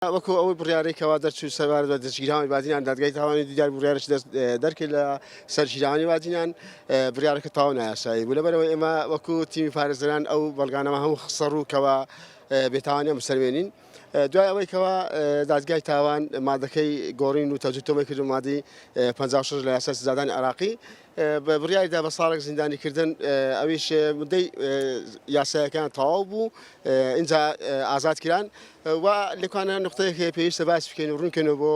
وەکو ئەو بڕیارەی کەوا دەرچوو سەبارەت بە دەستگیرانی بادینان دادگای تاوانی دیدار بڕیارش دەرکرد لە سەر گیرانی بادینان بڕیارەکە تاو نایاسایی بوو لەبەرەوە ئێمە وەکو تیمی پارێزەران ئەو بەڵگانەمە هەموو خسە ڕووکەوە بێتاوانە مسەروێنین دوای ئەوەی کەوا دادگای تاوان مادەکەی گۆڕین و تەجوتۆمەی کردو مادی 56 لە یاسای سزادانی عراقی بە بڕیاریدا بە ساڵێک زیندانی کردن ئەویش مدەی یاسایەکان تەواو بوو اینجا ئازاد کران و لەکانە نقطەیەک پێویستە باس بکەین و ڕوونکەنەوە بۆ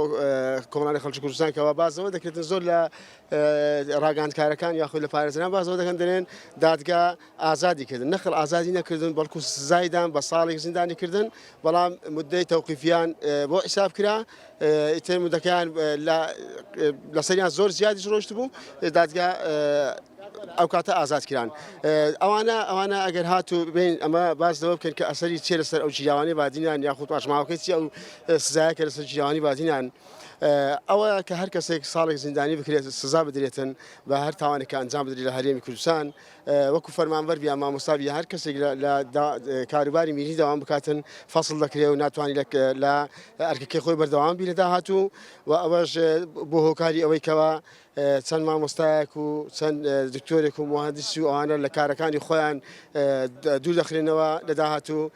کۆمەڵانی خەڵکی کوردستان کەەوە بازەوە دەکردن زۆر لە ڕاگەاندکارەکان یاخود لە پارێزران بازەوە دەکەن دەێن دادگا ئازادی کردن نەخر ئازادی نەکردن بەڵکو سزایدان بە ساڵێک زیندانی کردن بەڵام مدەی تەوقیفیان بۆ حیساب کرا ئیتر مدەکەیان لەسەریان زۆر زیادیش ڕۆشت بوو دادگا ئەو کاتە ئازاد کران ئەوانە ئەوانە ئەگەر هاتو بین ئەمە باز لەوە بکەن کە ئەسەری چێ لەسەر ئەو جیاوانی بادینان یاخود پاشماوەکەی چی ئەو سزایە کە لەسەر جیاوانی بادینان ئەوە کە هەر کەسێک ساڵێک زیندانی بکرێت سزا بدرێتن بە هەر تاوانێکە ئەنجام بدری لە هەرێمی کوردستان وەکو فەرمانبەر بیا مامۆستا بیا هەر کەسێک لە کاروباری میری داوام بکاتن فەصل دەکرێ و ناتوانانی لە ئەرکەکەی خۆی بەردەوام بی لە داهاتوو و ئەوەش بۆ هۆکاری ئەوەی کەەوە چەند مامۆستایەک و چەند دکتۆرێک و مهندسی و ئەوانە لە کارەکانی خۆیان دوور دەخرێنەوە لە داهاتوو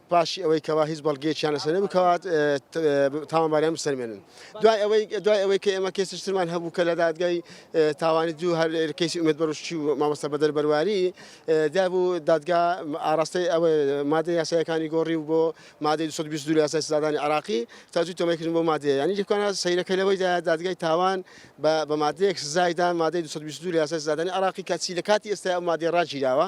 پاشی ئەوەی کەوا هیچ بەڵگەیەکیان لەسەر بکات تاوانباریان بسەلمێنن. دوای ئەوەی دوای ئەوەی کە ئێمە کەیسی ترمان هەبوو کە لە دادگای تاوانی دوو هەر کەیسی ئومێد بەروشی و مامۆستا بەدەر بەرواری دابوو دادگا ئاراستەی ئەوە مادە یاسایەکانی گۆڕی و بۆ مادەی 222 یاسای سزادانی عراقی تاجوی تۆمەکردن بۆ مادەیە یعنی لێکانە سەیرەکە لەوەی دادگای تاوان بە مادەیەک سزایدان مادەی 222 یاسای سزادانی عراقی کەچی لە کاتی ئێستا ئەو مادەی ڕاگیراوە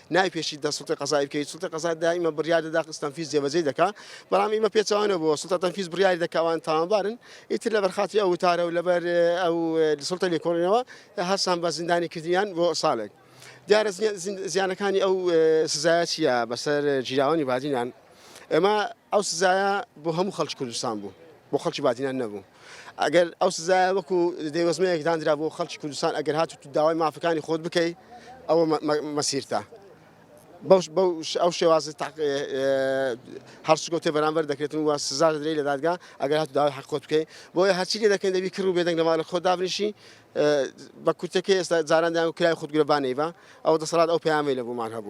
نای پێشی دە سڵتی قەزای بکەیت سڵتی قەزا دایمە بڕیار دەدا قستەنفیز جێبەجێ دەکا بەڵام ئیمە پێچوانە بۆ سڵتە تەنفیز بڕیاری دەکوان تاوانبارن ئیتر لە بەرخاتی ئەو وتارە و لەبەر ئەو سڵتە لێکۆڵینەوە هەرسان بە زیندانی کردیان بۆ ساڵێک دیارە زیانەکانی ئەو سزایە چیە بەسەر جیراوانی بادینان ئەمە ئەو سزایە بۆ هەموو خەڵکی کوردستان بوو بۆ خەڵکی بادینان نەبوو ئەگەر ئەو سزایە وەکو دەیوەزمەیەک داندرا بۆ خەڵکی کوردستان ئەگەر هات و داوای مافەکانی خۆت بکەیت ئەوە مەسیرتە ئەو شێواز هەڵسوگەوتێ بەرامبەر دەکرێتن و سزا دەدرێت لە دادگا ئەگەر هات داوای حق خۆت بکەیت بۆیە هەرچی لێ دەکەن دەبی کرد و بێدەنگ لەماڵ خۆ دابنیشی بە کورتەکە ئێستا جاران دایان و کرای خودگرە بانەیبا ئەو دەسەڵات ئەو پەیامی لە بۆمان هەبوو